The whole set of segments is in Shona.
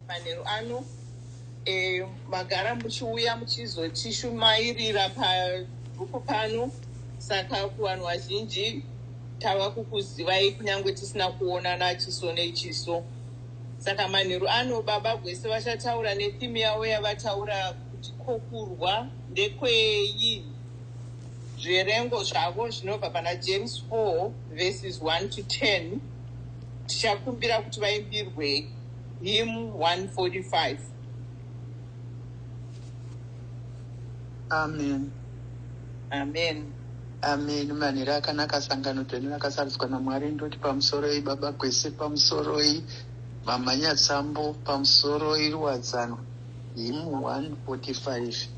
Manheru ano e, magara muchiuya muchizotishumairira pagrupu pano, saka kuvanhu vazhinji tava kukuzivai kunyange tisina kuonana chiso nechiso. Saka manheru ano baba Gwese vachataura netheme yavo yavataura kuti kokurwa ndekweyi. Zviverengo zvavo zvinobva pana James 4 verses 1 to 10 tichakumbira kuti vaimbirwei. Him 145 Amen. Amen. Amen. Manhero akanaka sangano dzenu rakasarudzwa naMwari ndoti pamusoroi baba Gwese pamusoroi mama Nyatsambo pamusoroi Ruwadzano him 145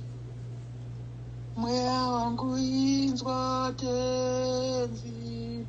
mweya wangu inzwa tenzi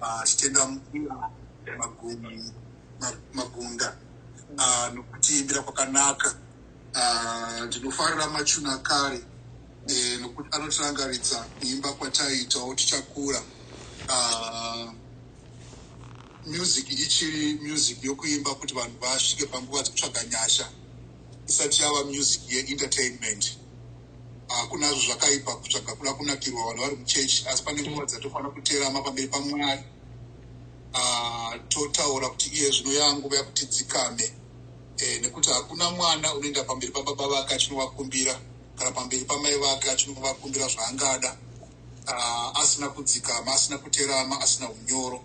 ah, tichitenda mukuru magumi magunda ah, nokutiimbira kwakanaka ah, ndinofarira machuna kare eh, nokuti anotirangaridza kuimba kwataiitawo tichakura music ichiri music yokuimba kuti vanhu vasvike panguva dzekutsvaga nyasha isati yava music yeentertainment hakunazvo zvakaipa kutsvaga kuda kunakirwa vanhu vari muchechi asi pane nguva dzatofanira kuterama pamberi pamwari ah, totaura kuti iye zvino yanguva yakuti dzikame eh, nekuti hakuna mwana unoenda pamberi pababa vake achinovakumbira kana pamberi pamai vake achinovakumbira zvaangada ah, asina kudzikama asina kuterama asina unyoro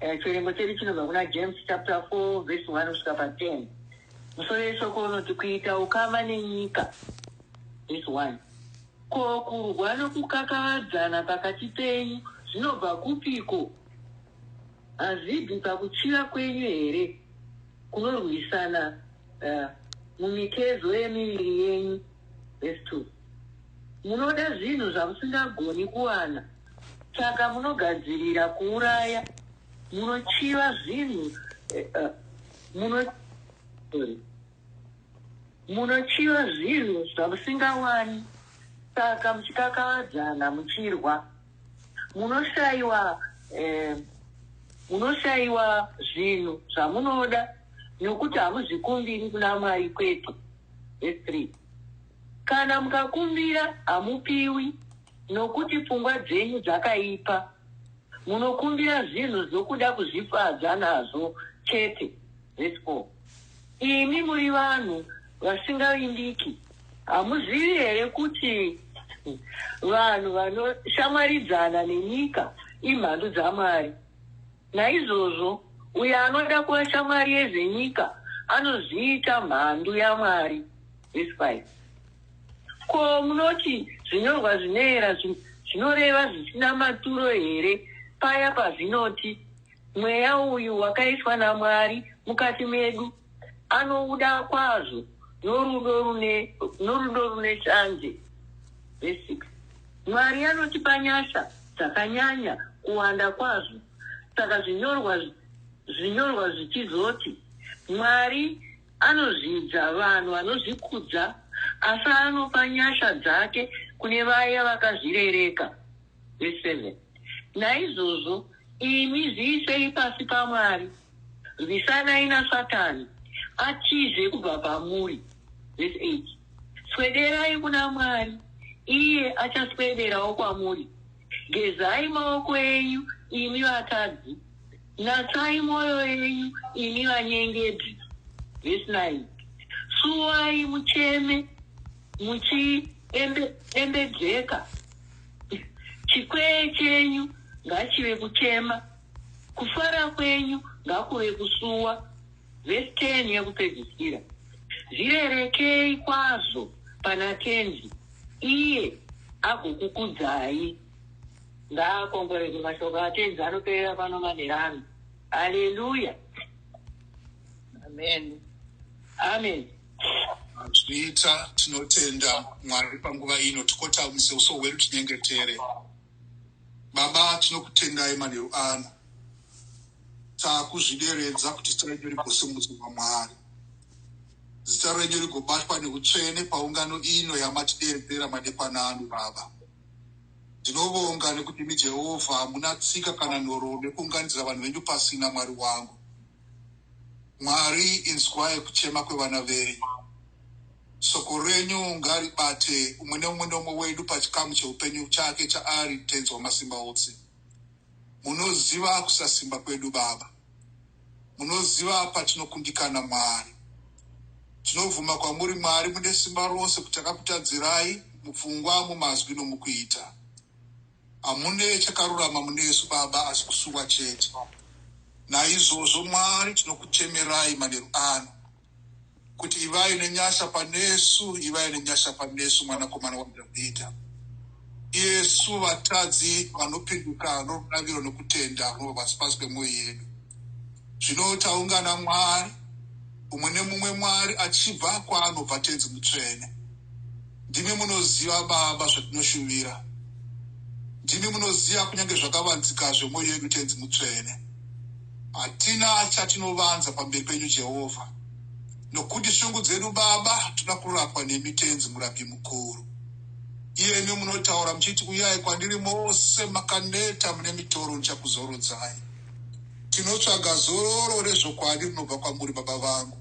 Eh, chiverengo chedu chinobva kuna James chapter 4 verse 1 kusvika pa 10. Musoro weshoko unoti kuita ukama nenyika. Verse 1. Ko kurwa nokukakavadzana pakati penyu zvinobva kupiko? Hazvibvi pakuchiva kwenyu here kunorwisana eh, mumitezo yemiviri yenyu? Verse 2. Munoda zvinhu zvamusingagoni kuwana, saka munogadzirira kuuraya. Munochiva zvinhu eh, eh, muno sorry. munochiva zvinhu zvamusingawani, saka muchikakavadzana muchirwa. Munoshaiwa eh, munoshaiwa zvinhu zvamunoda nokuti hamuzvikumbiri kuna Mwari kwete. Verse 3 Kana mukakumbira, hamupiwi, nokuti pfungwa dzenyu dzakaipa, munokumbira zvinhu zvokuda kuzvifadza nazvo chete. Verse 4 Imi muri vanhu vasingavimbiki, hamuzivi here kuti vanhu vanoshamwaridzana nenyika imhandu dzaMwari? Naizvozvo, uyo anoda kuva shamwari yezvenyika anozviita mhandu yaMwari. Vhesi 5. Ko munoti zvinyorwa zvinoera zvinoreva zvisina maturo here paya pazvinoti, Mweya uyu wakaiswa naMwari mukati medu? anouda kwazvo norudo rune norudo rune shanje basic mwari anotipa nyasha dzakanyanya kuwanda kwazvo saka zvinyorwa zvinyorwa zvichizoti mwari anozvidza vanhu vanozvikudza asi anopa nyasha dzake kune vaya vakazvirereka Verse 7. Naizvozvo imi zviisei pasi paMwari, rwisanai naSatani, atize kubva pamuri. Verse 8. Swederai kuna Mwari, iye achaswederawo kwamuri. Gezai maoko enyu, imi vatadzi, natsai mwoyo yenyu, imi vanyengedzi. Verse 9. Suwai mucheme, muchiendejeka chikwee chenyu ngachive kuchema kufara kwenyu ngakuve kusuwa vhesi 10 yekupedzisira zvirerekei kwazvo pana tenzi iye agokukudzai ngaakongoreke mashoko atenzi anoperera pano manherano haleluya amen amen Zviita tinotenda Mwari panguva ino tikotamise uso hwedu tinyengetere. Baba tinokutendai manheru ano. Takuzvideredza kuti zita renyu rigosimudzwa kwaMwari. Zita renyu rigobatwa neutsvene paungano ino yamatideedzera madekwana ano Baba. Ndinovonga nekuti imi Jehovha hamuna tsika kana nhoroondo yekuunganidzira vanhu venyu pasina Mwari wangu. Mwari inzwai kuchema kwevana venyu. Soko renyu ngaribate umwe neumwe neumwe wedu pachikamu cheupenyu chake chaari Tenzi Wamasimba ose. Munoziva kusasimba kwedu Baba. Munoziva patinokundikana Mwari. Tinobvuma kwamuri Mwari mune simba rose kuti takakutadzirai mupfungwa, mumazwi nomukuita. Hamune chakarurama munesu baba asi kusuwa chete. Naizvozvo Mwari tinokuchemerai manheru ano kuti ivai nenyasha panesu, ivai nenyasha panesu mwanakomana waDhavhidha. Iyesu vatadzi vanopinduka norudaviro nokutenda kunobva pasi pasi pemwoyo yedu. Zvino taungana Mwari, umwe nemumwe Mwari achibva kwaanobva Tenzi Mutsvene. Ndimi munoziva, Baba, zvatinoshuvira. Ndimi munoziva kunyange zvakavanzika zvemwoyo yedu, Tenzi Mutsvene. Hatina chatinovanza pamberi penyu, Jehovha, nokuti shungu dzedu, Baba, toda kurapwa nemi, Tenzi Murapi Mukuru. Iyemi munotaura muchiti, Uyai kwandiri mose makaneta mune mitoro, ndichakuzorodzai. Tinotsvaga zororo rezvokwadi rinobva kwamuri, Baba vangu.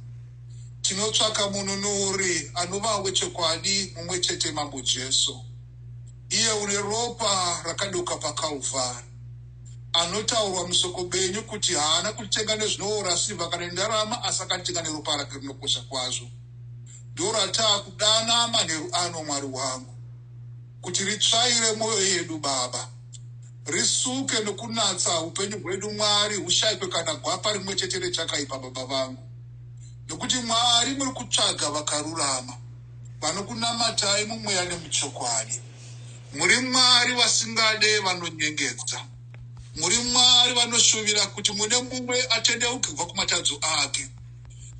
Tinotsvaka Mununuri anova wechokwadi mumwe chete Mambo Jesu, iye une ropa rakadoka paKalvari, anotaurwa musoko benyu kuti haana kutitenga nezvinoora sirva kana nendarama asi akatitenga neropa rake rinokosha kwazvo. Ndorataa kudana manheru ano, Mwari wangu, kuti ritsvaire mwoyo yedu, Baba. Risuke nokunatsa upenyu hwedu, Mwari, hushaikwe kana gwapa rimwe chete rechakaipa, Baba vangu. nokuti Mwari muri kutsvaga vakarurama, vanokunamatai mumweya nemuchokwadi. Muri Mwari vasingade vanonyengedza. Muri Mwari vanoshuvira kuti mune mumwe atendeuke kubva kumatadzo ake,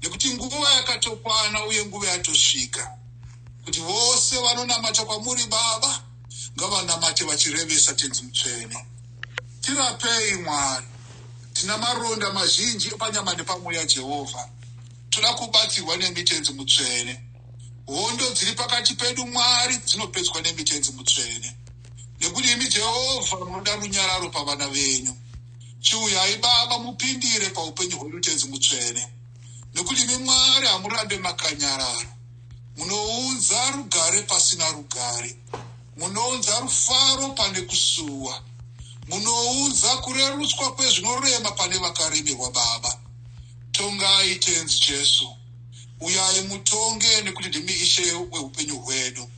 nekuti nguva yakatokwana uye nguva yatosvika kuti vose vanonamata kwamuri Baba ngavanamate vachirevesa Tenzi Mutsvene. Tirapei Mwari. Tina maronda mazhinji epanyama nepamweya Jehovha. Toda kubatsirwa nemi Tenzi Mutsvene. Hondo dziri pakati pedu Mwari dzinopedzwa nemi Tenzi Mutsvene. Nekuti imi Jehovha munoda runyararo pavana venyu. Chiuyai Baba mupindire paupenyu hwedu Tenzi Mutsvene. Nekuti imi Mwari hamurambe makanyarara. Munounza rugare pasina rugare. Munounza rufaro pane kusuwa. Munounza kurerutswa kwezvinorema pane vakaremerwa Baba. Tongai Tenzi Jesu. Uyai mutonge nekuti ndimi Ishe wehupenyu hwedu.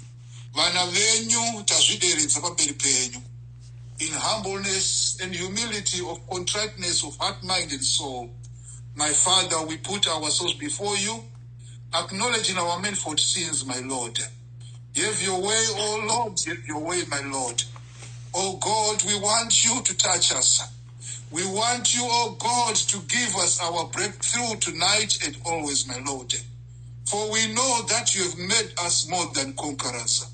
Vana venyu tazvideredza pamberi penyu. In humbleness and humility of contriteness of heart, mind and soul. My Father, we put ourselves before you, acknowledging our manifold sins, my Lord. Have your way, O oh Lord, have your way, my Lord. O oh God, we want you to touch us. We want you, O oh God, to give us our breakthrough tonight and always, my Lord. For we know that you have made us more than conquerors.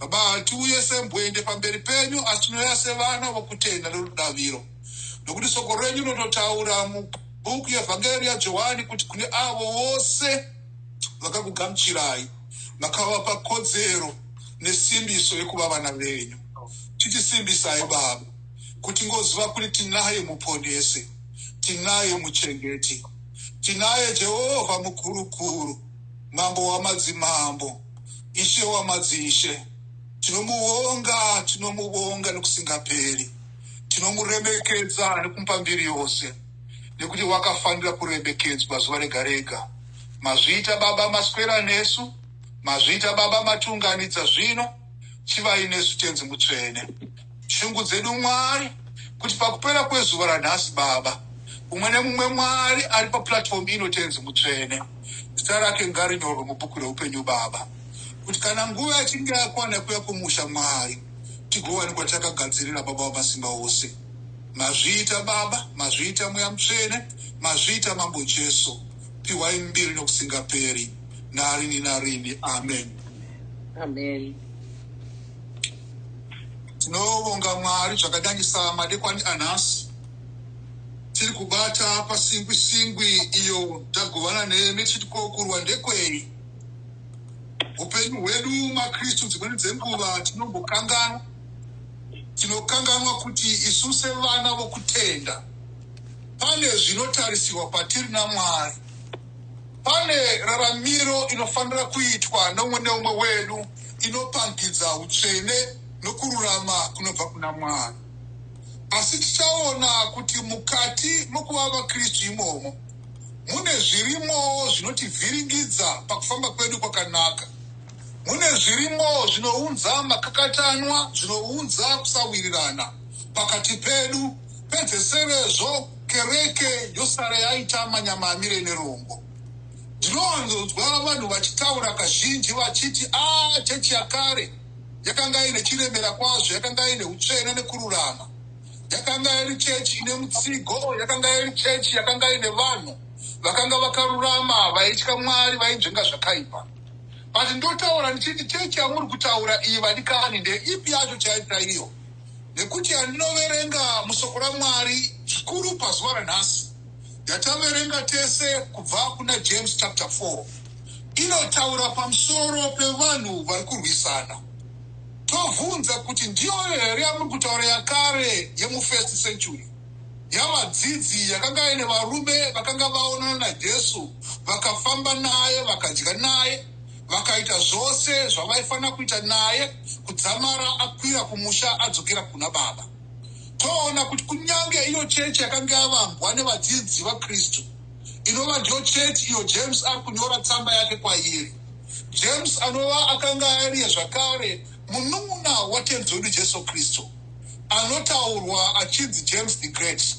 Baba, hatiuye sembwende pamberi penyu asi tinouya sevana vokutenda nerudaviro nokuti soko renyu rinototaura mubhuku yevhangeri yajohani kuti kune avo vose vakakugamuchirai makavapa kodzero nesimbiso yekuva vana venyu titisimbisai baba kuti ngoziva kuti tinaye muponesi tinaye muchengeti tinaye jehovha mukurukuru mambo wamadzimambo ishe wamadzishe tinomuvonga tinomuvonga nekusingaperi tinomuremekedza nekumupa mbiri yose nekuti wakafanira kuremekedzwa zuva rega rega Mazviita baba maswera nesu Mazviita baba matiunganidza zvino Chivai nesu tenzi mutsvene Shungu dzedu Mwari Kuti pakupera kwezuva ranhasi baba Umwe nemumwe Mwari ari paplatform ino tenzi mutsvene Zita rake ngarinyorwe mubhuku reupenyu baba Kuti kana nguva yachinge yakwana yekuya kumusha Mwari Tigowanikwa takagadzirira baba wamasimba ose Mazviita baba Mazviita mweya mutsvene Mazviita mambo Jesu pihwai mbiri nokusingaperi narini narini amen amen tinovonga mwari zvakadanisa madekwani anhasi tiri kubata pasingwi singwi iyo tagovana nemi tichiti kokurwa ndekwei upenyu hwedu makristu dzimweni dzenguva tinombokanganwa tinokanganwa kuti isu sevana vokutenda Pane zvinotarisirwa kwatiri naMwari. Pane raramiro inofanira kuitwa noumwe neumwe wedu inopangidza utsvene nokururama kunobva kuna Mwari. Asi tichaona kuti mukati mokuva vaKristu imomo mune zvirimowo zvinotivhiringidza pakufamba kwedu kwakanaka. Mune zvirimowo zvinounza makakatanwa, zvinounza kusawirirana pakati pedu. Pedzesirezvo, kereke yosara yaita manyama amire nerongo. Ndinowanzonzwa vanhu vachitaura kazhinji vachiti, A, chechi yakare yakanga ine chiremera kwazvo, yakanga ine utsvene nekururama. Yakanga iri chechi ine mutsigo, yakanga iri chechi yakanga ine vanhu vakanga vakarurama, vaitya Mwari, vainzvenga zvakaipa. But ndotaura ndichiti, Chechi yamuri kutaura iyi, vadikani, ndeipi yacho chaiyo chaiyo? nekuti yandinoverenga musoko ramwari zvikuru pazuva ranhasi yataverenga tese kubva kuna james chapter 4 inotaura pamusoro pevanhu vari kurwisana tobvunza kuti ndiyoyo here yamuri kutaura yakare yemufirst century yavadzidzi yakanga ine varume vakanga vaonana najesu vakafamba naye vakadya naye vakaita zvose zvavaifanira kuita naye kudzamara akwira kumusha adzokera kuna baba toona kuti kunyange iyo chechi yakange yavambwa nevadzidzi vakristu inova ndiyo chechi iyo james ari kunyora tsamba yake kwairi james anova akanga ariye zvakare munun'una watenzi wedu jesu kristu anotaurwa achinzi james the great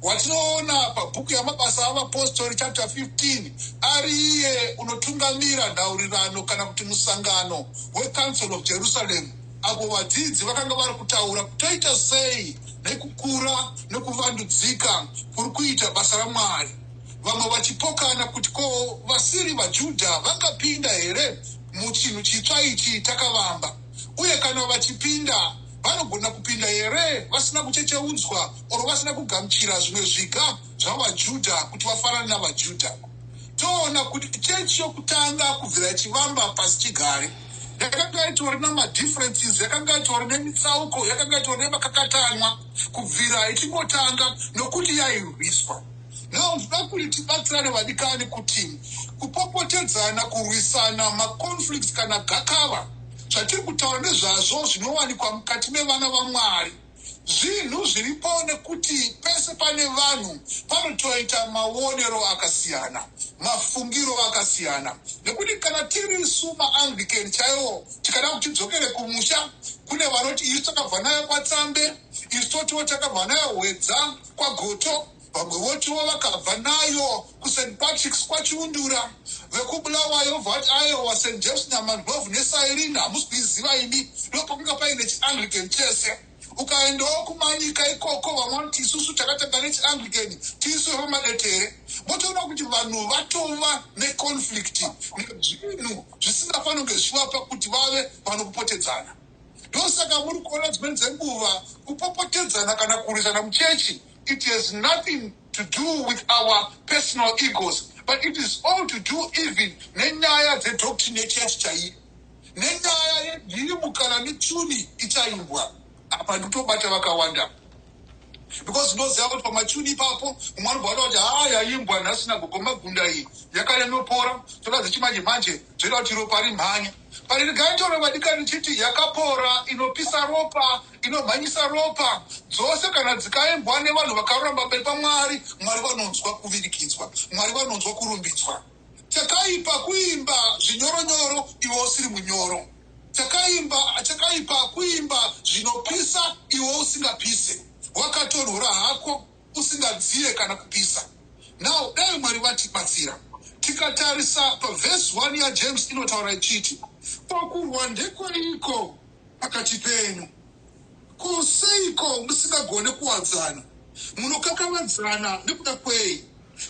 Watinoona apa, bhuku yaMabasa aVapostori chapter 15, ari iye unotungamira nhaurirano kana kuti musangano weCouncil of Jerusalem apo vadzidzi vakanga vari kutaura kutoita sei nekukura nekuvandudzika kuri kuita basa raMwari, vamwe vachipokana kuti ko vasiri vaJudha vangapinda here muchinhu chitsva ichi takavamba, uye kana vachipinda vanogona kupinda here vasina kuchecheudzwa or vasina kugamuchira zvimwe zviga zvavaJudha kuti vafanane navaJudha. Toona kuti chechi yokutanga kubvira ichivamba pasi chigare yakanga itori namadifferences yakanga itori nemitsauko yakanga itori nemakakatanwa kubvira ichingotanga nokuti yairwiswa now ndida kuti tibatsirane vadikani kuti kupopotedzana kurwisana maconflicts kana gakava zvatiri kutaura nezvazvo zvinowanikwa mukati mevana vamwari Zvinhu zviripo nekuti pese pane vanhu panotoita maonero akasiyana, mafungiro akasiyana nekuti kana tiri isu maAnglican chaiwo tikada kuti tidzokere kumusha kune vanoti isu takabva nayo kwaTsambe, isu totiwo takabva nayo Hwedza kwaGoto. Vamwe votiwo vakabva nayo kuSt Patrick's kwaChiundura, vekuBulawayo vobva vati aewa St James Nyamandlovu neCyrene hamusi kuiziva imi, ndopakanga paine chiAnglican chese. Ukaendawo kuManyika ikoko vamwe vanoti isusu takatanga nechiAnglican tisu vepamadetere. Motoona kuti vanhu vatova neconflict nezvinhu zvisingafanonge zvichivapa kuti vave vanokupotedzana. Ndosaka muri kuona dzimweni dzenguva kupopotedzana kana kurwisana muchechi It has nothing to do with our personal egos but it is all to do even nenyaya dzedoctrine yechurch chaiyo nenyaya yenhirimu kana mituni ichaimbwa apa ndikutobata vakawanda because ndoziva kuti pamachuni ipapo mumwe anobvada kuti haa yaimbwa nhasina gogomagunda iyi yakanyanyopora toda dzechimanje manje zvoita kuti ropa rimhanye Parirgaitoro vadikani chiti yakapora, inopisa ropa, inomhanyisa ropa, dzose kana dzikaimbwa nevanhu vakarurama pamberi paMwari, Mwari vanonzwa kuvirikidzwa, Mwari vanonzwa kurumbidzwa. Chakaipa kuimba zvinyoro nyoro iwe usiri munyoro. Chakaimba chakaipa kuimba zvinopisa iwe usingapise. Wakatonhora hako. usingadziye kana kupisa. Now dai Mwari vatibatsira. Tikatarisa paverse one yaJames inotaura ichiti. Ko kurwa ndekweiko pakati penyu? Ko seiko musingagone kuwadzana? Munokakavadzana nekuda kwei?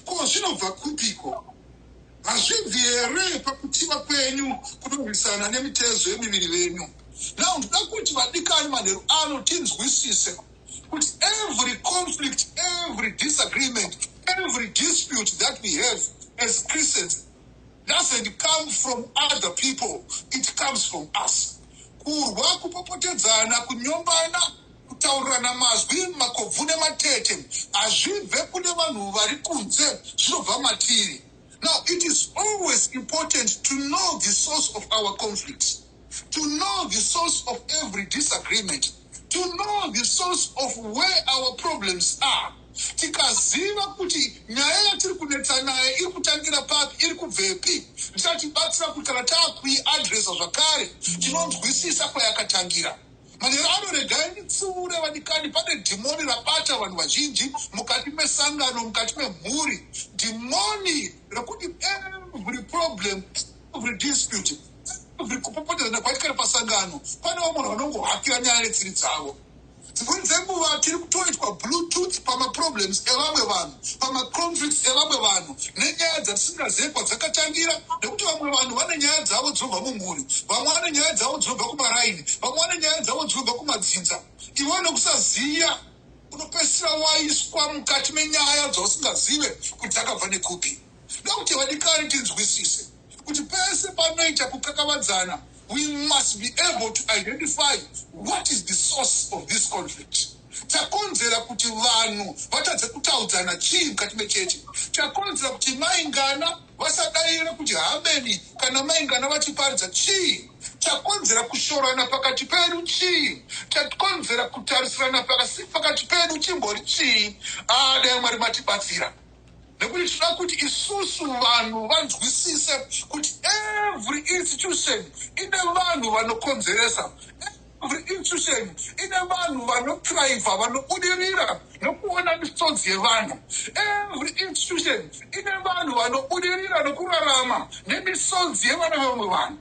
Ko zvinobva kupiko? Hazvibvi here pakutiwa kwenyu kunorwisana nemitezo yemiviri venyu? Now ndoda kuti vadikani manheru ano tinzwisise kuti every conflict every disagreement every dispute that we have as christians doesn't come from other people it comes from us kurwa kupopotedzana kunyombana kutaurirana mazwi makobvu nematete hazvibve kune vanhu vari kunze zvinobva matiri now it is always important to know the source of our conflicts to know the source of every disagreement to know the source of where our problems are tikaziva kuti nyaya yatiri kunetsa nayo iri kutangira papi iri kubvepi ndichatibatsira kuti kana taakuiadresa zvakare tinonzwisisa kwayakatangira manhero ano regai ndipfuure vadikani pane dhimoni rabata vanhu vazhinji mukati mesangano mukati memhuri dhimoni rekuti every problem every dispute, every kupopotedzana kwaitika nepasangano, pane vamwe vanhu vanongohakira nyaya netsiri dzavo. Dzimweni dzenguva tiri kutoitwa bluetooth pamaproblems evamwe vanhu, pamaconflicts evamwe vanhu, nenyaya dzatisingazive kwadzakatangira, nekuti vamwe vanhu vane nyaya dzavo dzinobva mumhuri, vamwe vane nyaya dzavo dzinobva kumaraini, vamwe vane nyaya dzavo dzinobva kumadzinza. Ivo nekusaziva unopedzisira waiswa mukati menyaya dzausingazive kuti dzakabva nekupi. Zvinoda kuti vadikani tinzwisise kuti pese panoita kukakavadzana we must be able to identify what is the source of this conflict. Chakonzera kuti vanhu vatadze kutaudzana chii mukati mechechi? Chakonzera kuti mai Ngana vasadaire kuti hameni kana mai Ngana vachiparidza chii? Chakonzera kushorana pakati pedu chii? Chakonzera kutarisirana pasi pakati pedu chimbori chii? Haa dai Mwari matibatsira. nekuti tinoda kuti isusu vanhu vanzwisise kuti every institution ine vanhu vanokonzeresa every institution ine vanhu vanotraiva vanobudirira nokuona misodzi yevanhu every institution ine vanhu vanobudirira nokurarama nemisodzi yevana vevamwe vanhu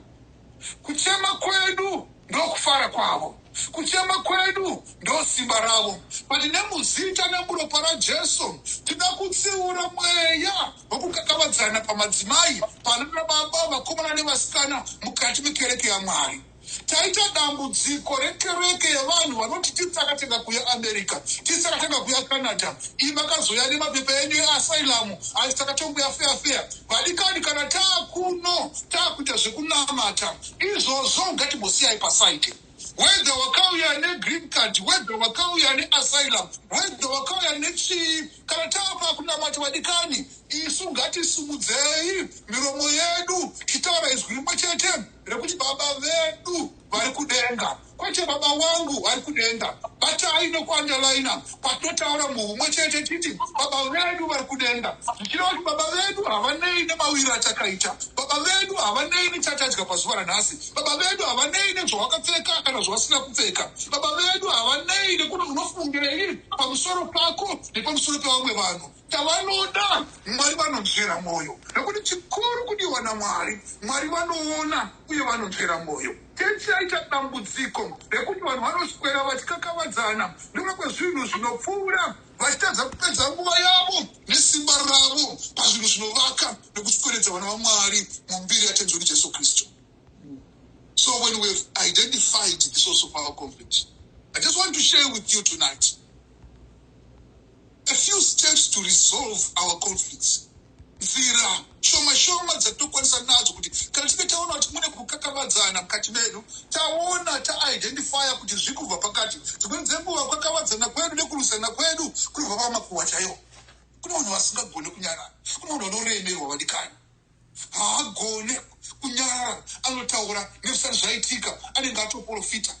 Kuchema kwedu ndokufara kwavo. Kuchema kwedu ndosimba ravo. But nemuzita nemuropa raJesu tinoda kutsiura mweya wekukakavadzana pamadzimai, pananababa, vakomana nevasikana mukati mekereke yaMwari. Taita dambudziko rekereke yevanhu vanoti tiri takatanga kuya America, tiri takatanga kuya Canada, Iyi makazouya nemapepa enyu easylum ayo saka tonguya feya feya vadikani kana taakuno taakuita zvekunamata izvozvo ngatimbosiyai pasaite whether wakauya negreen card whether wakauya neasylum whether wakauya nechii kana tava kunamata vadikani isu ngatisumudzei miromo yedu titaura izwi rimwe chete rekuti baba vedu vari kudenga Kwete baba wangu vari kudenga. Batai nokuandalaina patinotaura muhumwe chete titi baba vedu vari kudenga. Zvichireva kuti baba vedu havanei nemawiro atakaita. Baba vedu havanei nechatadya pazuva ranhasi. Baba vedu havanei nezvawakapfeka kana zvawasina kupfeka. Baba vedu havanei nekuti unofungirei pamusoro pako nepamusoro pevamwe vanhu. Chavanoda Mwari vanonzvera mwoyo nokuti chikuru kudiwa naMwari. Mwari vanoona uye vanonzvera mwoyo. Chechi yaita dambudziko rekuti vanhu vanoswera vachikakavadzana nokuda kwezvinhu zvinopfuura vachitadza kupedza nguva yavo nesimba ravo pazvinhu zvinovaka nokusweredza vana vaMwari mumbiri yaTenzi wedu Jesu Kristu. So when we have identified the source of our conflict, I just want to share with you tonight. a few steps to resolve our conflicts nzira shoma shoma dzatinokwanisa nadzo kuti kana tinge taona kuti mune kukakavadzana mukati medu taona taidentifya kuti zviri kubva pakati dzimweni dzenguva kukakavadzana kwedu nekurwisana kwedu kunobva pamakuwa chaiwo kune vanhu vasingagone kunyarana kune vanhu vanoremerwa vadikani haagone kunyarara anotaura nezvisati zvaitika anenge atoprofita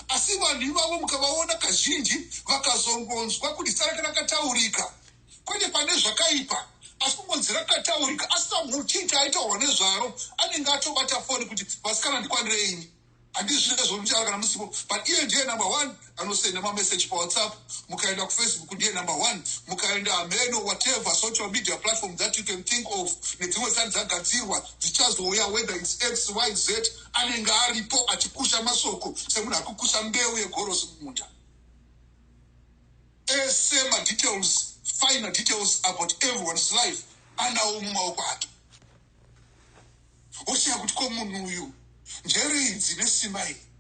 asi vanhu ivavo mukavaona kazhinji vakazongonzwa kuti sarati rakataurika kwete pane zvakaipa asi kungonzi rakataurika asi samuchiita aitaurwa nezvaro anenge atobata foni kuti vasikana ndikwandireini Handizvide zvomuchara kana musipo but iye ndiye number one anosenda mamessage pawhatsapp mukaenda kufacebook ndiye number one mukaenda hameno whatever social media platform that you can think of nedzimwe sani dzagadzirwa dzichazouya whether its x y z anenge aripo achikusha masoko semunhu akukusha mbeu yegorosi mumunda ese madetails final details about everyone's life anawo mumaoko ake Wosheya kuti ko munhu uyu njere idzi nesimba iri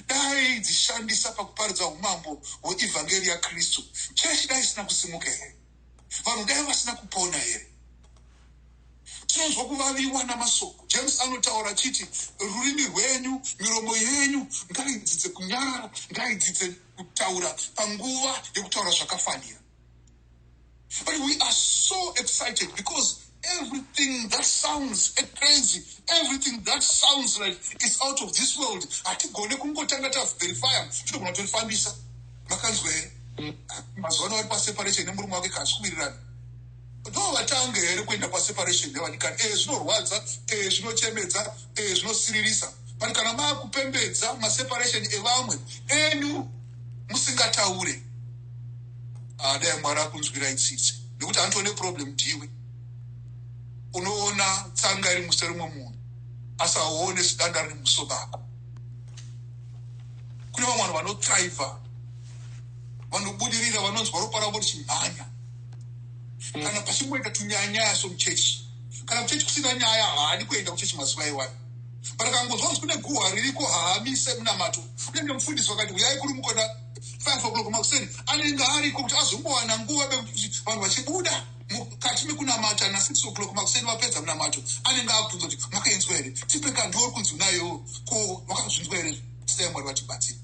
dai dzishandisa pakuparidza umambo hweevhangeri yaKristu, chechi dai isina kusimuka here? Vanhu dai vasina kupona here? Tinonzwa kuvaviwa namasoko. James anotaura achiti, rurimi rwenyu, miromo yenyu ngaidzidze kunyarara, ngaidzidze kutaura panguva yekutaura zvakafanira. But we are so excited because everything that sounds crazy, everything that sounds like it's out of this world, hatigone kungotanga taverifya tinogona kutorifambisa makanzwa here mazuva ano vari paseparation nemurume wake kasi kuwirirana Ndovatanga here kuenda paseparation nevanikani ee zvinorwadza ee zvinochemedza ee zvinosiririsa but kana maakupembedza maseparation evamwe enyu musingataure ah, dai mwari akunzwira itsitsi nekuti anotone problem ndiwe unoona tsanga iri muso rimwe munhu asaone zidanda riri muso bako kune vamwe vanhu vanotraiva vanobudirira vanonzwa ropa ravo richimhanya kana pachingoita tunyanyaya somuchechi kana kuchechi kusina nyaya haadi kuenda kuchechi mazuva iwani but akangonzwa kuti kune guhwa ririko haamise munamato unenge mufundisi wakati huyai kuri mukona five o'clock makuseni anenge ariko kuti azombowana nguva bekuti vanhu vachibuda mukati mekunamata nasix o'clock makuseni vapedza munamato anenge abvunza kuti makainzwa here tipe kandiori kunzi unayo ko vakazvinzwa here tisai mwari vatibatsiri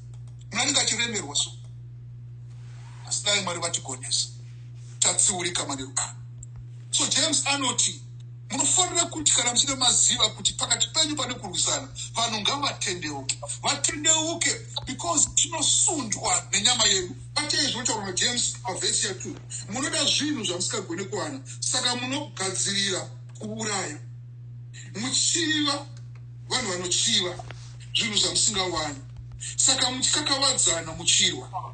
munhu anenge achiremerwa so asi dai mwari vatigonesa tatsiurika manero aya so james anoti munofanira kuti kana muchida maziva kuti pakati penyu pane kurwisana vanhu ngavatendeuke vatendeuke because tinosundwa nenyama yedu batei zvinotaurwa najames pavhesi ya two munoda zvinhu zvamusingagone kuwana saka munogadzirira kuuraya muchiva vanhu vanochiva zvinhu zvamusingawani saka muchikakavadzana muchirwa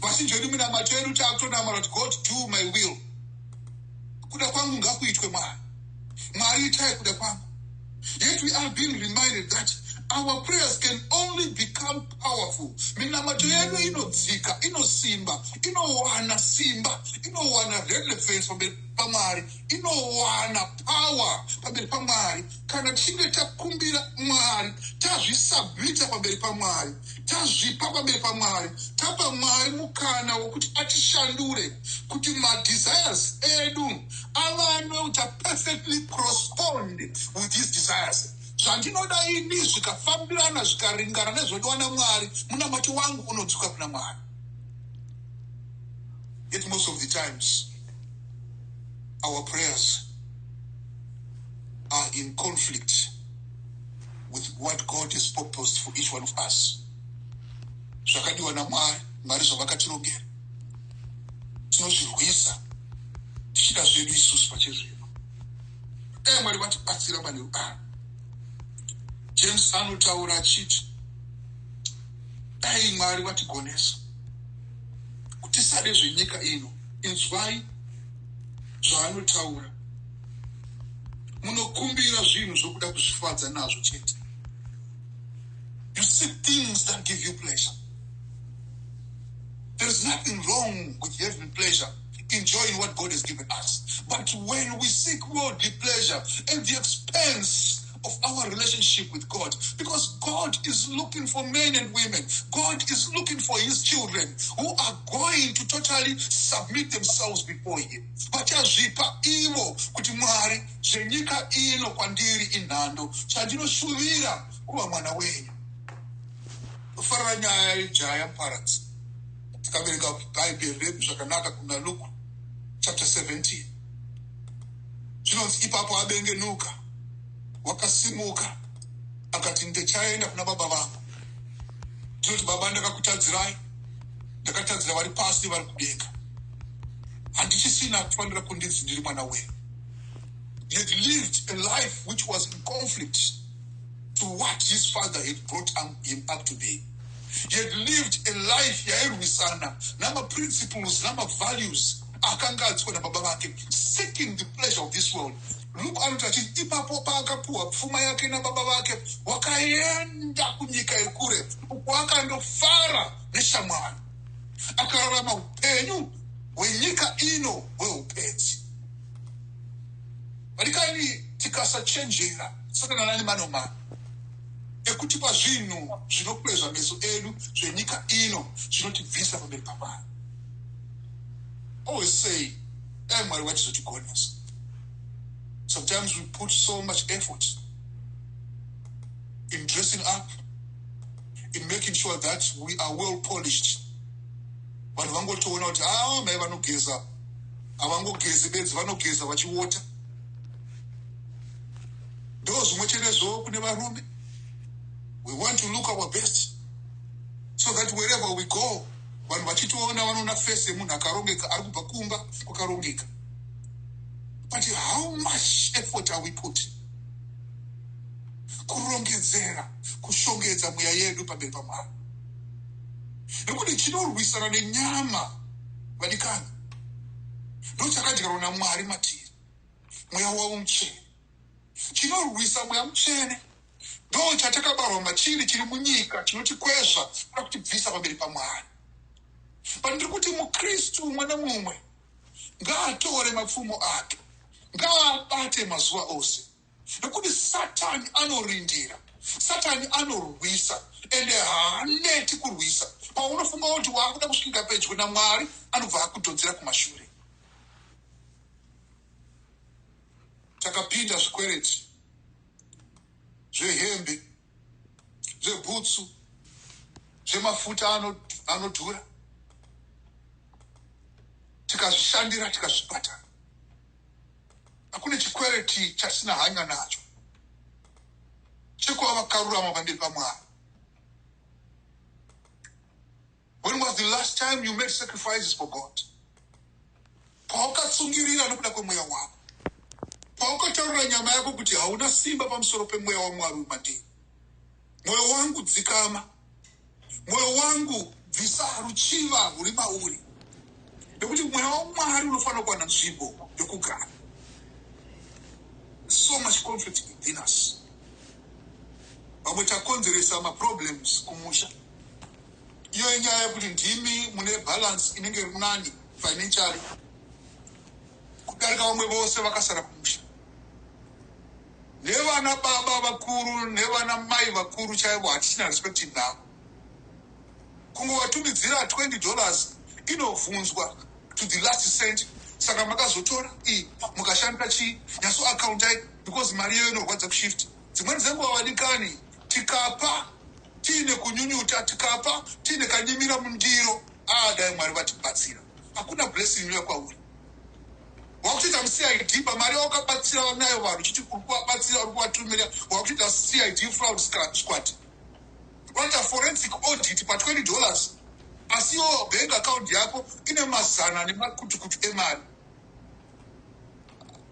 Vazhinji vedu minamato yedu taakutonamata kuti God do my will. Kuda kwangu ngakuitwe Mwari. Mwari itai kuda kwangu. Yet we are being reminded that our prayers can only become powerful minamato yedu inodzika inosimba inowana simba inowana relevance pamwari inowana power pamberi pamwari kana tichinge takumbira mwari tazvisabhita pamberi pamwari tazvipa pamberi pamwari tapa mwari mukana wekuti atishandure kuti madesires edu avanwe kuti aperfectly correspond with his desires zvandinoda ini zvikafambirana zvikaringana nezvodiwa namwari munamati wangu unodzuka kuna mwari it most of the times our prayers are in conflict with what God has proposed for each one of us. Zvakadiwa naMwari, Mwari zvavakatirongera. Tinozvirwisa tichida zvedu isusu pachezvino. Dai Mwari vatibatsira pane rugano. James anotaura achiti dai Mwari vatigonesa kuti sade zvenyika ino inzwai zvaanotaura munokumbira zvinhu zvokuda kuzvifadza nazvo chete you see things that give you pleasure there is nothing wrong with having pleasure enjoying what god has given us but when we seek worldly pleasure at the expense of our relationship with God because God is looking for men and women. God is looking for his children who are going to totally submit themselves before him. Vachazvipa ivo kuti Mwari zvenyika ino kwandiri inhando chandinoshuvira kuva mwana wenyu. Kufarira nyaya yejaya muparadzi tikaverenga bhaibheri redu zvakanaka kuna Luke chapter 17 Zvinonzi ipapo abengenuka wakasimuka akati ndechaenda kuna baba vangu ndinoti baba ndakakutadzirai ndakatadzira vari pasi vari kudenga handichisina kufanira kundinzi ndiri mwana wenyu he had lived a life which was in conflict to what his father had brought um, him up to be he had lived a life yairwisana namaprinciples namavalues akanga atsiwa nababa vake, seeking the pleasure of this world. Luke anoti achiti ipapo paakapuhwa pfuma yake nababa vake, wakaenda kunyika yekure uko akandofara neshamwari, akararama upenyu hwenyika ino hweupedzi. Vadikani, tikasachenjera satana nani manomana ekutipa zvinhu zvinokwezva meso edu zvenyika ino zvinotibvisa pamberi pamwari always say dai mwari vachizotigonesa sometimes we put so much effort in dressing up in making sure that we are well polished vanhu vangotoona kuti aa ah, mai vanogeza havangogezi bedzi vanogeza vachiwota ndo zvimwe chete zvo kune varume we want to look our best so that wherever we go vanhu vachitoona vanoona face yemunhu akarongeka ari kubva kumba kwakarongeka but how much effort are we putting kurongedzera kushongedza mweya yedu pamberi pamwari nekuti chinorwisana nenyama vadikani ndochakadyarwa namwari matiri mweya wavo muchena Chinorwisa mweya mutsvene ndo chatakabarwa machiri chiri munyika chinotikwezva kana kutibvisa pamberi paMwari. But ndiri kuti muKristu umwe nemumwe ngaatore mapfumo ake, ngaabate mazuva ose nekuti Satani anorindira, Satani anorwisa ende haaneti kurwisa. Paunofunga kuti waakuda kusvika pedyo naMwari anobva akudhodzera kumashure. takapinda zvikwereti zvehembe zvebhutsu zvemafuta anodhura tikazvishandira tikazvibhadhara hakune chikwereti chatisina hanya nacho chekuva vakarurama pandiri pamwari When was the last time you made sacrifices for God? Paukatsungirira nokuda kwemweya wako. Paukataurira nyama yako kuti hauna simba pamusoro pemweya wamwari wemadii. Mwoyo wangu dzikama. Mwoyo wangu bvisa ruchiva ruri mauri. Nekuti mweya wamwari unofanira kuwana nzvimbo yokugara. So much conflict within us. Vamwe takonzeresa maproblems kumusha. Iyo inyaya yekuti ndimi mune balance inenge iri nani financially kudarika vamwe vose vakasara kumusha nevana baba vakuru nevana mai vakuru chaivo hatichina respect navo kungovatumidzira 20 dollars inobvunzwa to the last cent saka makazotora i mukashandira chii nyaso akaundai because mari iyoyo inorwadza kushift Dzimweni dzenguva vadikani, tikapa tiine kunyunyuta, tikapa tiine kanyimira mundiro, ah dai Mwari vatibatsira. Hakuna blessing inouya kwauri. Wakutoita muCID pamari wakabatsira vanayo vanhu chiti uri kuvabatsira uri kuvatumira wakutoita CID fraud squad. Vanoita forensic audit pa 20 dollars asi iwo bank account yako ine mazana nemakutukutu emari.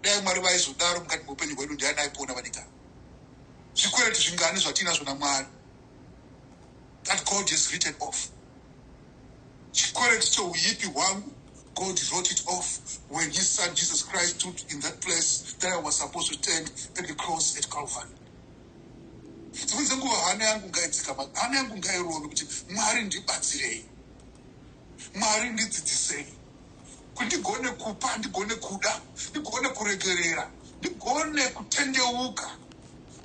dai mwari vaizodaro mukati meupenyu hwedu ndiani aipona vanika zvikwereti zvingani zvatiinazvo namwari that god has written off chikwereti cheuipi hwangu God wrote it off when his son Jesus Christ stood in that place that I was supposed to stand at the cross at Calvary. dzimwe dzenguva hana yangu ngaitsika hana yangu ngairove kuti mwari ndibatsirei Mwari ndidzidzisei kuti ndigone kupa, ndigone kuda, ndigone kuregerera, ndigone kutendeuka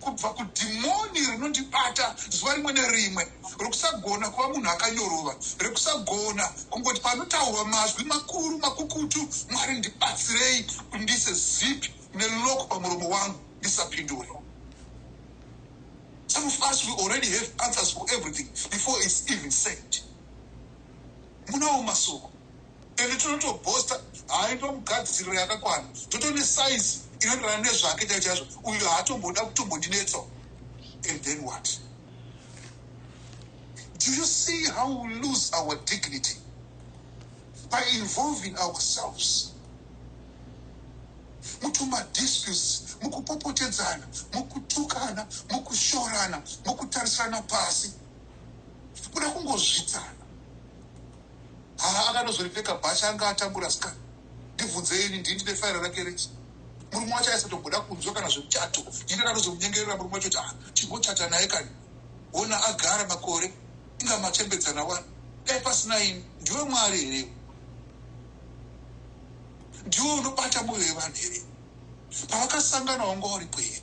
kubva kudhimoni rinondibata zuva rimwe nerimwe rekusagona kuva munhu akanyorova, rekusagona kungoti panotaurwa mazwi makuru makukutu. Mwari ndibatsirei kuti ndiise zipi neloko pamuromo wangu ndisapindure. Some of us we already have answers for everything before it's even said. munawo masoko ende tinotobosta haaitwa mugadziriro yakakwana totone saizi inoenderana nezvake chai chaizvo uyo haatomboda kutombondinetsawo and then what do you see how we lose our dignity by involving ourselves mutumadisputes mukupopotedzana mukutukana mukushorana mukutarisana pasi kuda kungozvidzana haa akanozoripfeka bhachi anga atambura ska ndibvunze ini ndini ndine faira rake rechi murume wacho aisatomboda kunzwa kana zvemuchato ini ndakatozomunyengerera murume wacho kuti a ah, timbochata naye kani ona agara makore inga machembedzana wani dai pasina ini ndiwe mwari here ndiwe unobata moyo yevanhu here pavakasangana wanga uripo here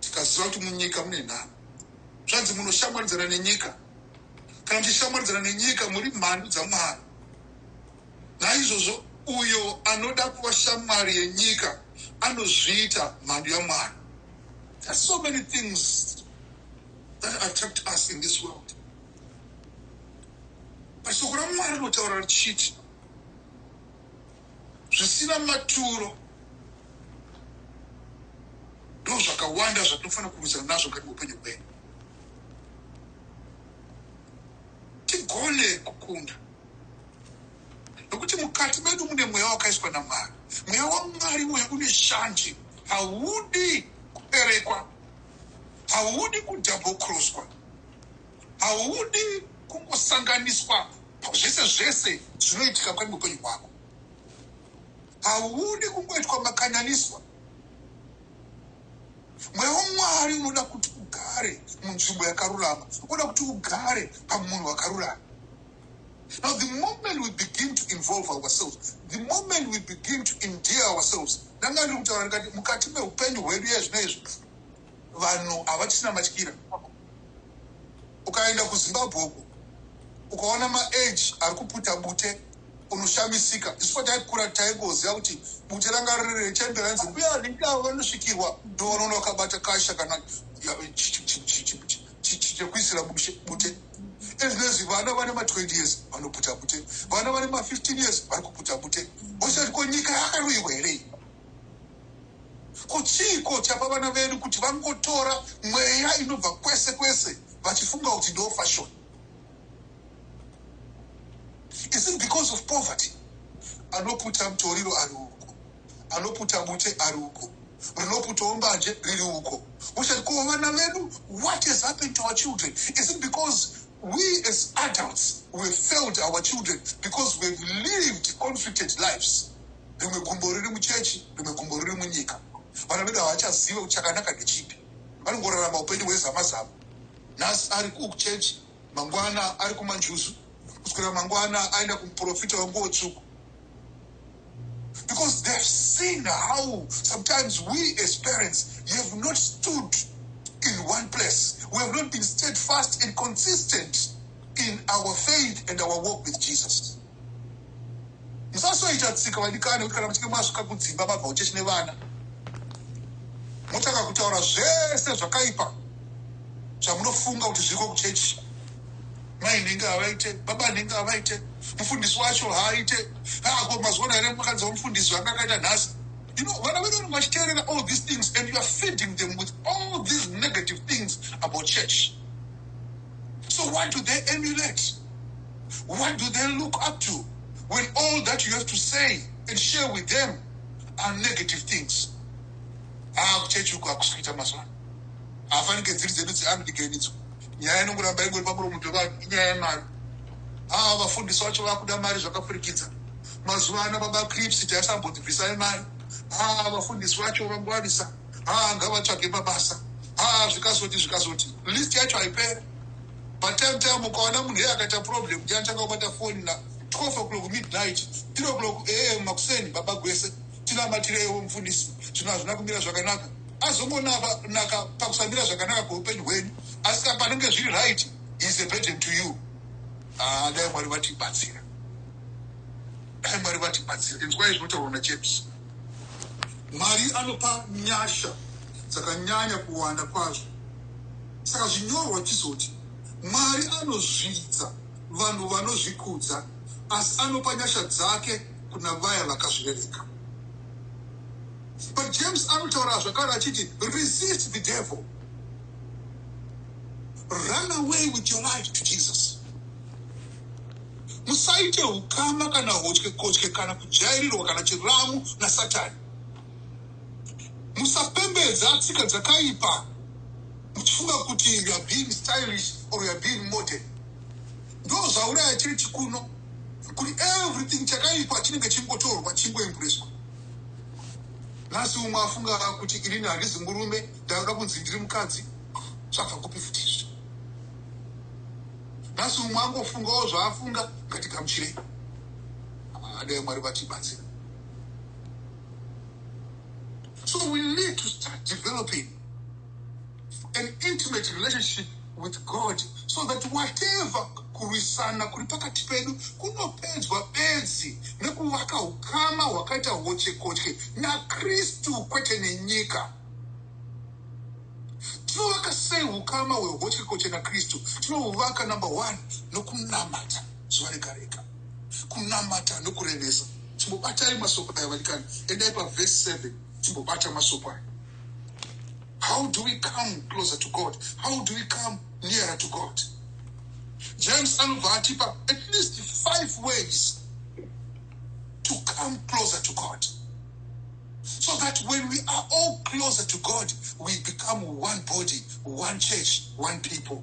tikaziva kuti munyika mune nhamo zvanzi munoshamwaridzana nenyika kana muchishamwaridzana nenyika muri mhandu dzamwari naizvozvo uyo anoda kuva shamwari yenyika anozviita mhandu yamwari there's so many things that attract us in this world but soko ramwari rinotaura richiti zvisina maturo ndozvakawanda zvatinofanira kurwisana nazvo mukati meupenyu hwedu tigone kukunda nokuti mukati medu mune mweya wakaiswa namwari mweya wamwari mweya une shanje haudi kuberekwa haudi kudabocroswa haudi kungosanganiswa Zvese zvese zvinoitika kwani mupenyu hwako haudi kungoitwa makananiswa mweya wamwari unoda kuti ugare munzvimbo yakarurama unoda kuti ugare pamunhu wakarurama now the moment we begin to involve ourselves the moment we begin to endear ourselves ndanga ndiri kutaura ndikati mukati meupenyu hwedu yezvino izvi vanhu havachisina matyira ukaenda kuzimbabwe uku ukaona maage ari kuputa bute unoshamisika isu taikura taingoziva kuti bute ranga riri rechemberanzi mbuya vanenge avo vanosvikirwa ndovanoona vakabata kasha kana chekuisira bute ezvinezvi vana vane ma20 years vanoputa bute vana vane ma15 years vari kuputa bute osati ko nyika yakaroiwa here Ko chiiko chapa vana vedu kuti vangotora mweya inobva kwese kwese vachifunga kuti ndo fashion? Is it because of poverty? Anoputa mutoriro ari uko, anoputa bute ari uko, rinoputawo mbanje riri uko. Uchati ko vana vedu, what has happened to our children? Is it because we as adults we failed our children because we've lived conflicted lives? rimwe gumbo riri muchechi rimwe gumbo riri munyika vana vedu havachazive kuti chakanaka ndechipi vanongorarama upenyu hwezama zama nhasi ari kuchechi mangwana ari kumanjuzu kuswera mangwana aenda kumuprofita wenguo tsvuku because they've seen how sometimes we as parents you have not stood in one place we have not been steadfast and consistent in our faith and our work with jesus musasoita tsika vadikani kuti kana muchinge masvika kudzimba mabva uchechi nevana motanga kutaura zvese zvakaipa zvamunofunga kuti zviriko kuchechi mai nhinge havaite baba nhinge havaite mufundisi wacho haaite haako ah, mazuva naere makanzi wamufundisi vanga akaita nhasi you know vana vedu vanenge vachiteerera all these things and youare feeding them with all these negative things about church so what do they emulate What do they look up to when all that you have to say and share with them are negative things? Haa kuchechi uku hakusi kuita mazuva ano. Hafanike dziri dzedu dzeAmerican idzo. Nyaya inongoramba ingori pamuromo pevanhu inyaya yemari. Haa vafundisi vacho vakuda mari zvakapfurikidza. Mazuva ano baba Crips taisambondibvisai mari. Haa vafundisi vacho vangwarisa. Haa ngavatsvage mabasa. Haa zvikazoti zvikazoti. List yacho haipere. Patime time ukaona munhu iye akaita problem kuti anotanga kubata foni na 12 o'clock midnight 3 o'clock am makuseni baba gwese tinamatireiwo mufundisi zvinhu hazvina kumira zvakanaka azongonaka pakusamira zvakanaka kweupenyu hwenyu asi ka panenge zviri right is a burden to you ah, dai mwari vatibatsira dai mwari vatibatsira inzwai zvinotaurwa najames mwari anopa nyasha dzakanyanya kuwanda kwazvo Saka zvinyorwa chizoti, Mwari anozvidza vanhu vanozvikudza, asi anopa nyasha dzake kuna vaya vakazvirereka. But James anotaura zvakare achiti, Resist the devil. Run away with your life to Jesus. Musaite ukama kana hotyekotye kana kujairirwa kana chiramu naSatani. musapembedza tsika dzakaipa muchifunga kuti youare being stylish or youare being modern ndo zvauraya chechi kuno kuti everything chakaipa chinenge chingotorwa chingoembureswa nhasi umwe afunga kuti irini handizi murume ndanoda kunzi ndiri mukadzi zvabva kupi futi izvi nhasi umwe angofungawo zvaafunga ngatigamuchirei adai mwari vatibatsira So we need to start developing an intimate relationship with God so that whatever kurwisana kuri pakati pedu kunopedzwa bedzi nekuvaka ukama hwakaita hochekotye nakristu kwete nenyika tinovaka sei ukama hwehochekotye nakristu tinouvaka number one nokunamata zuva rega rega zvekunamata nokurevesa chimbobatai masoko aya vanikani endai pavhesi 7 chimbobata masoko aya how do we come closer to god how do we come nearer to god james anobva atipa at least five ways to come closer to god so that when we are all closer to god we become one body one church one people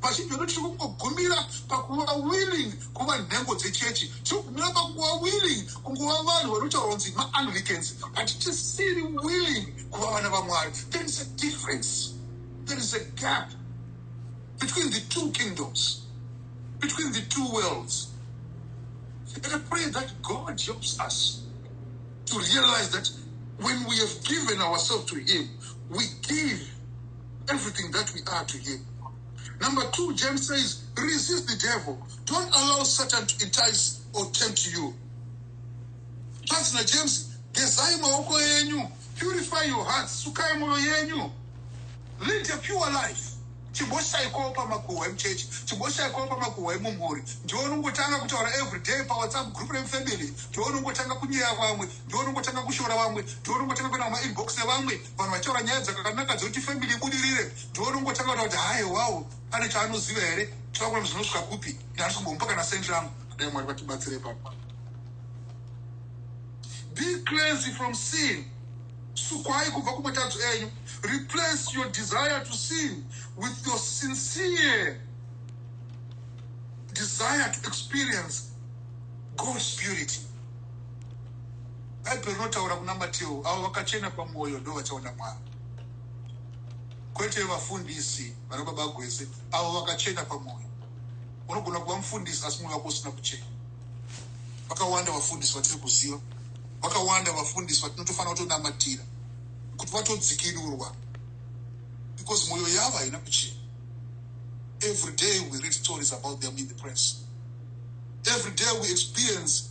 Pachigwendo tiri kungogumira pakuva willing kuva nhengo dzechechi, tiri kugumira pakuva willing kunguva vanhu vanotaura kunzi maanglicans, but tisiri willing kuva vana vamwari. There is a difference, there is a gap between the two kingdoms, between the two worlds. And I pray that God helps us to realize that when we have given ourselves to Him, we give everything that we are to him number two james says resist the devil don't allow satan to entice or tempt you zvanzi najames gezai maoko enyu purify your heart sukai mwoyo yenyu lead a pure life chiboshaikowo pamakuhwa emuchechi chiboshaikowo pamakuhwa emumhuri ndiwo unongotanga kutaura everyday pawhatsapp group remufamily ndiwo unongotanga kunyeya vamwe ndiwo unongotanga kushora vamwe ndiwo unongotanga kuenda kumainbox evamwe vanhu vachitaura nyaya dzakanaka dzekuti family ibudirire ndonongotanga kuta kuti haye wawo ane chaanoziva here tavakuna zvinosvika kupi nehandisi kumbomupa kana sent rangu dai mwari vatibatsire papa be crazy from sin sukwai kubva kumatadzo enyu replace your desire to sin with your sincere desire to experience god's purity Bhaibheri rinotaura kuna Mateo, avo vakachena pamwoyo ndo vachaona Mwari, kwete vafundisi vana baba gwese, avo vakachena pamwoyo. Unogona kuva mufundisi asi mwoyo wako usina kuchena. Vakawanda vafundisi vatiri kuziva, vakawanda vafundisi vatinotofanira kutonamatira kuti vatodzikinurwa because mwoyo yavo haina kuchena. Every day we read stories about them in the press. Every day we experience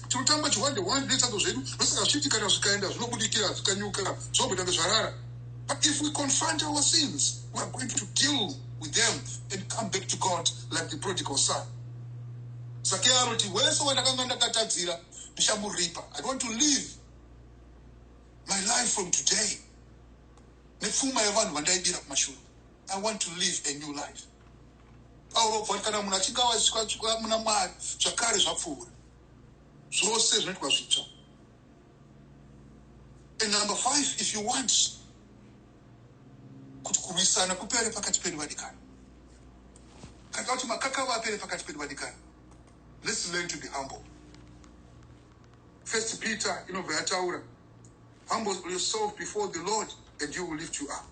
tinotamba chihwande hwande nezvitsango zvedu ndosaka zvichiti kana zvikaenda zvinobudikira zvikanyuka zvogotange zvarara but if we confront our sins we are going to deal with them and come back to god like the prodigal son sake anoti wese wandakanga ndakatadzira ndichamuripa i want to live my life from today nepfuma yevanhu vandaibira kumashure i want to live a new life Pauro obva kuti kana munhu achinge awaziswa muna Mwari zvakare zvapfuura zvose zvinoitwa zvitsva. And number five, if you want kuti kurwisana kupere pakati pedu vadikana, kana kuti makakava apere pakati pedu vadikana, let's learn to be humble. First Peter inobva yataura humble yourself before the Lord and you will lift you up.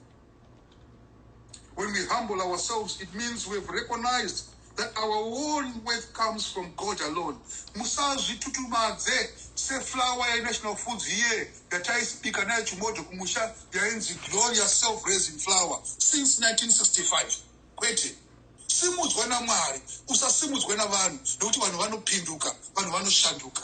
When we humble ourselves, it means we have recognized that our own worth comes from God alone. Musazvitutumadze seflower yeNational Foods here yataisibika nayo chimodho kumusha yainzi Gloria Self Raising Flower since 1965. Kwete. Simudzwa naMwari, usasimudzwe navanhu nekuti vanhu vanopinduka, vanhu vanoshanduka.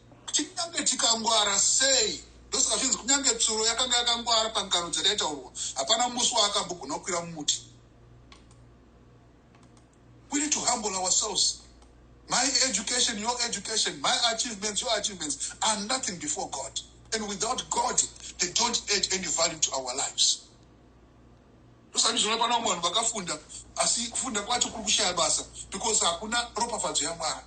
Kunyange tikangwara sei, ndosaka zvinzi kunyange tsuro yakanga yakangwara pangano dzakaitaurwa, hapana musi waakambogona kukwira mumuti. We need to humble ourselves. My education, your education, my achievements, your achievements are nothing before God. And without God, they don't add any value to our lives. Usandizvona pana vamwe vanhu vakafunda asi kufunda kwacho kuri kushaya basa because hakuna ropafadzo yaMwari.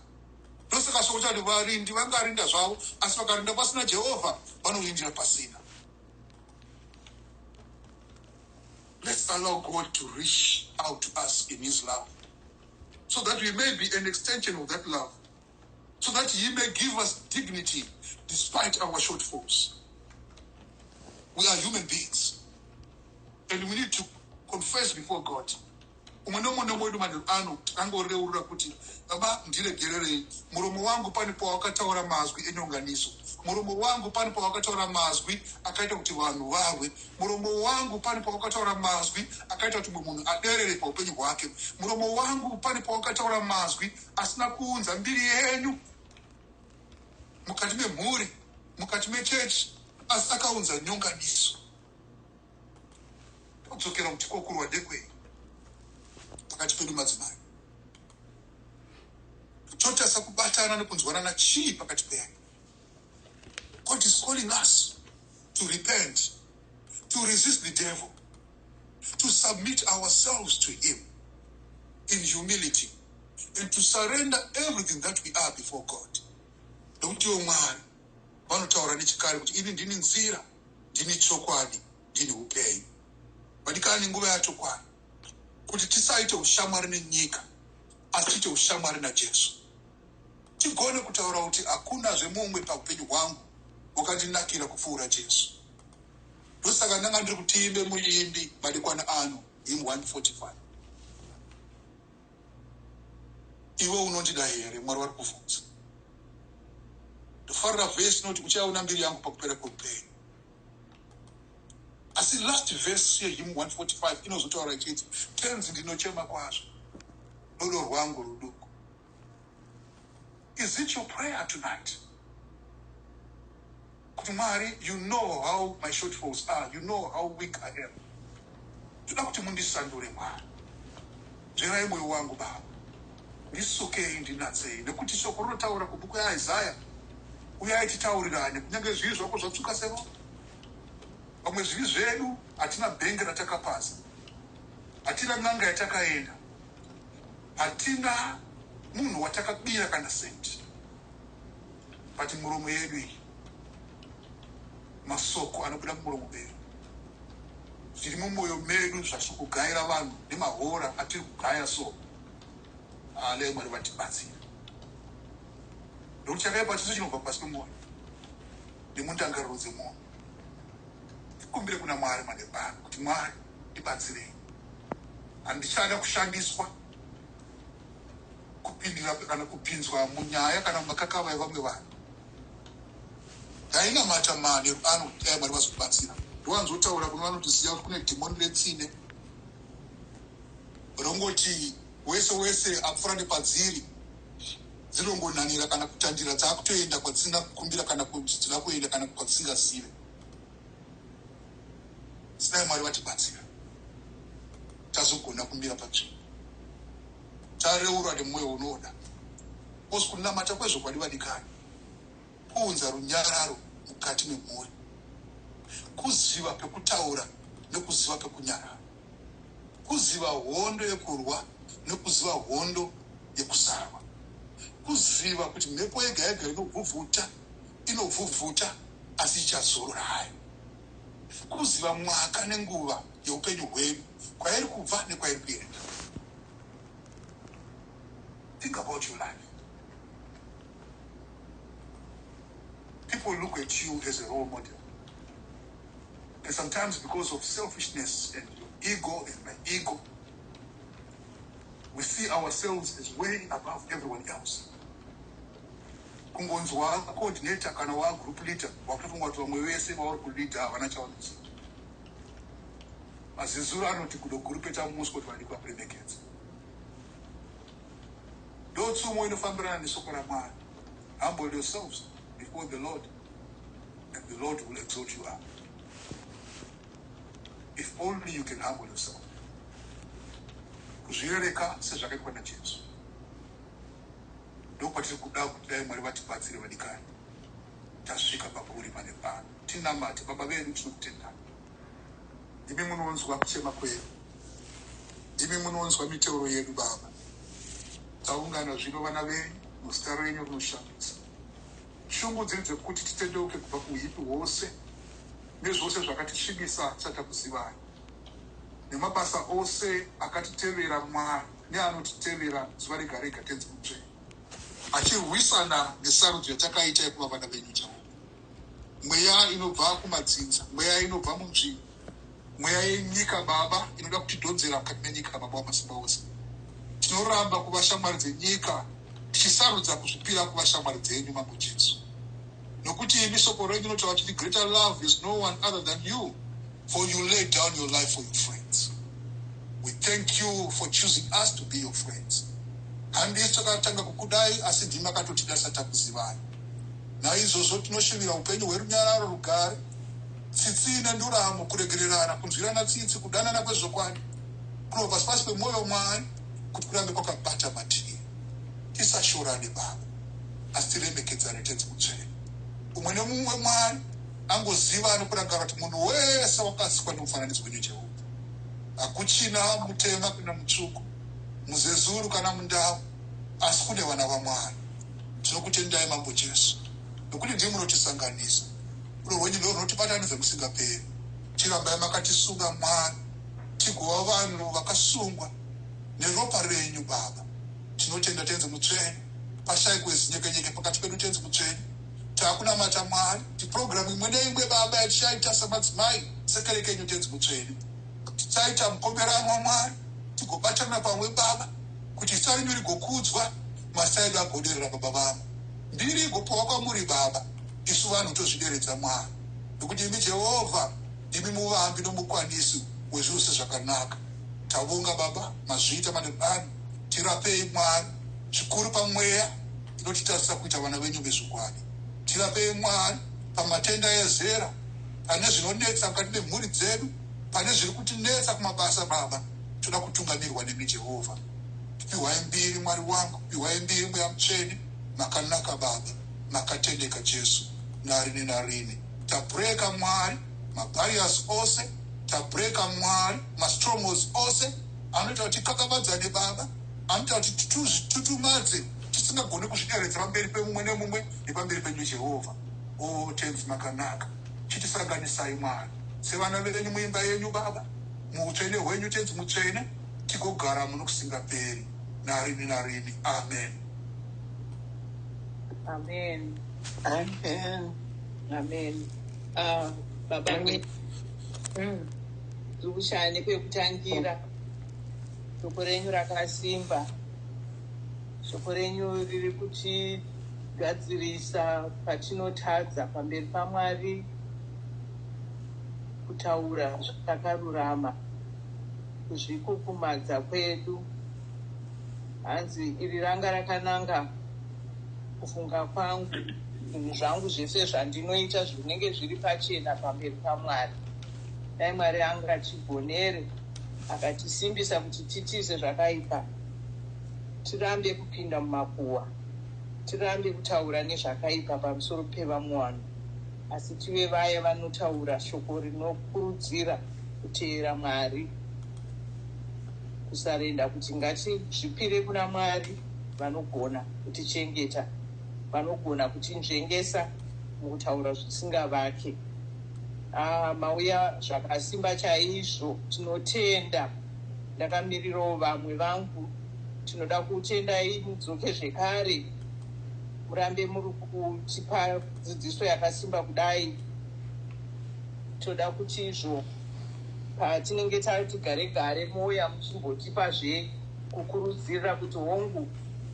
Ndosaka shoko chati varindi vangarinda zvavo asi vakarinda pasina Jehovha vanorindira pasina. Let's allow God to reach out to us in his love so that we may be an extension of that love. so that he may give us dignity despite our shortfalls. We are human beings and we need to confess before God. umwe nomwe nomwe wedu manheru ano angoreurura kuti baba ndiregererei muromo wangu pane pawakataura mazwi enyonganiso muromo wangu pane pawakataura mazwi akaita kuti vanhu vahwe muromo wangu pane pawakataura mazwi akaita kuti mumwe munhu aderere paupenyu hwake muromo wangu pane pawakataura mazwi asina kuunza mbiri yenyu mukati memhuri mukati mechechi asi akaunza nyonganiso kudzokera kuti kokurwa ndekwei pakati pedu madzimai totasa kubatana nekunzwanana chii pakati pedu god is calling us to repent, to resist the devil, to submit ourselves to him in humility and to surrender everything that we are before God. Don't you mwari vanotaura nechikare kuti ini ndini nzira ndini chokwadi ndini upenyu vadikani nguva yacho kwani kuti tisaite ushamwari nenyika asi tiite ushamwari najesu tigone kutaura kuti hakuna zvemumwe paupenyu hwangu wakandinakira kupfuura Jesu. Ndosaka ndanga ndiri kutiimbe muimbi madekwana ano him 145 iwe unondida here mwari vari kuvhunza ndofarira vhesi inoti uchaona mbiri yangu pakupera kweupenyu asi last vhesi yehim 145 inozotaura ichiti tenzi ndinochema kwazvo rudo rwangu ruduku Is it your prayer tonight? Kuti Mwari, you know how my shortfalls are, you know how weak I am. Toda kuti mundisandure Mwari. Nzverai moyo wangu Baba. Ndisukei ndinatsei nekuti shoko rinotaura kubhuku yaIsaya uyai titaurirane kunyange zvivi zvako zvatsvuka seropa. Vamwe zvivi zvedu hatina bhenge ratakapasa. Hatina n'anga yatakaenda. Hatina munhu watakabira kana cent but muromo yedu iyi masoko anobuda mumuromo medu zviri mumoyo medu zvasikugaira vanhu nemahora atiri kugaya so alei mwari vatibatsira ndokuti chakaipa chese chinobva pasi pemwoyo nemundangariro dzemwoyo tikumbire kuna mwari madebano kuti mwari ndibatsirei Handichada kushandiswa, kupindira kana kupinzwa munyaya kana mumakakava evamwe vanhu. Ndainamata manheru ano kuti dai Mwari vazobatsira. Ndowanzotaura kuno vanoti ziva kuti kune dhimoni retsine rongoti wese wese apfura nepadziri dzinongonhan'ira kana kutandira dzakutoenda kwadzisina kukumbira kana kuti dzinoda kuenda kana kwadzisingazive. Dai Mwari vatibatsira tazogona kumira patsvimbo tareurwa nemwoyo unoda bcause kunamata kwezvokwadi vadikani kuunza runyararo mukati memhuri kuziva pekutaura nekuziva pekunyarara kuziva hondo yekurwa nekuziva hondo yekusarwa kuziva kuti mhepo yega yega inobvubvuta inobvubvuta asi ichazorora hayo. Kuziva mwaka nenguva yeupenyu hwedu, kwairi kubva nekwairi kuenda. Think about your life. People look at you as a role model. And sometimes because of selfishness and your ego and my ego, we see ourselves as way above everyone else. kungonzwa coordinator kana wa group leader wakutofunga kuti vamwe vese vauri kuleader havana chavanoziva mazizuru anoti kudo gurupeta musi kuti vadikwa kuremekedza ndotsumo inofambirana nesoko ramwari humble yourselves before the lord and the lord will exalt you up if only you can humble yourself kuzvirereka sezvakaitwa najesu ndokwatiri kuda kuti dai Mwari vatibatsire vadikani tasvika pakuri pane pano tinamate baba vedu tinokutendai imi munonzwa kuchema kwedu imi munonzwa miteuro yedu baba taungana zvino vana venyu muzita renyu rinoshandisa shungu dziri dzekuti titendeuke kubva kuuipi hwose nezvose zvakatisvibisa tisati takuzivai nemabasa ose akatitevera mwari neanotitemera zuva rega rega tenzi mutsvene achirwisana nesarudzo yatakaita yekuva vana venyu chavo mweya inobva kumadzinza mweya inobva munzvimbo mweya yenyika baba inoda kutidhonzera mukati menyika baba wamasimba ose tinoramba kuva shamwari dzenyika tichisarudza kuzvipira kuva shamwari dzenyu mambo jesu nokuti imi soko renyu inotaura kuti the greater love is no one other than you for you lay down your life for your friends we thank you for choosing us to be your friends handisu takatanga kukudai asi ndimi akatotida tisati takuzivai naizvozvo tinoshuvira upenyu hwerunyararo rugare tsitsi ine nduramo kuregererana kunzwirana tsitsi kudanana kwezvokwadi kuno pasi pasi pemwoyo mwari kuti kurambe kwakabata mativi tisashorane baba asi tiremekedzane tenzi mutsvene umwe nemumwe mwari angoziva anokuranga kuti munhu wese wakasikwa nemufananidzo wenyu jehovha hakuchina mutema kana mutsvuku muzezuru kana mundau asi kune vana vamwari tinokutendai mambo jesu nokuti ndii munotisanganisa rudo rwenyu ndo runotibatanidza musingaperi tirambai makatisunga mwari tigova vanhu vakasungwa neropa renyu baba tinotenda tenzi mutsvene pashaikwe zinyekenyeke pakati pedu tenzi mutsvene takunamata mwari kuti purogiramu imwe neimwe baba yatichaita samadzimai sekere kenyu tenzi mutsvene tichaita mukomberano wamwari tigobatana pamwe baba kuti zita renyu rigokudzwa masta edu agoderera baba vamo mbiri igopiwa kwamuri baba isu vanhu tozvideredza mwari nokuti imi jehovha ndimi muvambi nomukwanisi wezvose zvakanaka tavonga baba mazviita madebani tirapei mwari zvikuru pamweya tinotitarisa kuita vana venyu vezvokwadi tirapei mwari pamatenda ezera pane zvinonetsa mukati memhuri dzedu pane zviri kutinetsa kumabasa baba toda kutungamirwa nemi jehovha piwai mbiri mwari wangu piwai mbiri mweya mutsvene makanaka baba makatendeka jesu narini narini tabreka mwari mabarias ose tabreka mwari mastrongos ose anoita kuti kakavadzane baba Anoita kuti titututmadze tisingagone kuzvideredza pamberi pemumwe nemumwe nepamberi penyu Jehovha. O Tenzi makanaka, chitisanganisai Mwari sevana venyu muimba yenyu Baba, muutsvene hwenyu Tenzi mutsvene, tigogara muno kusingaperi narini narini. Amen. Amen. Amen. Amen. Ah, Baba, Amen. Mm. tikushaya nepekutangira. Shoko renyu rakasimba. Shoko renyu riri kutigadzirisa patinotadza pamberi paMwari kutaura zvatakarurama kuzvikukumadza kwedu. Hanzi iri ranga rakananga kufunga kwangu zvinhu zvangu zvese zvandinoita zvinenge zviri pachena pamberi paMwari. Dai Mwari angachigonere. Akatisimbisa kuti titize zvakaipa, tirambe kupinda mumakuhwa, tirambe kutaura nezvakaipa pamusoro pevamwe vanhu, asi tive vaya vanotaura shoko rinokurudzira kuteera Mwari, kusarenda, kuti ngatizvipire kuna Mwari vanogona kutichengeta, vanogona kutinzvengesa mukutaura zvisingavake. Haa mauya zvakasimba chaizvo tinotenda ndakamirirawo vamwe vangu tinoda kutendai mudzoke zvekare murambe muri kutipa dzidziso yakasimba kudai toda kuti izvo patinenge tati gare gare mouya muchimbotipa zve kukurudzirira kuti hongu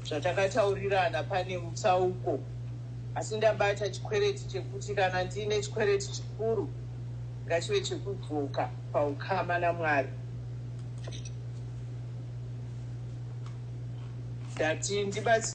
zvatakataurirana pane mutsauko Asi ndabata chikwereti chekuti kana ndiine chikwereti chikuru ngachive chekudzoka paukama naMwari. Ndati ndibatsire.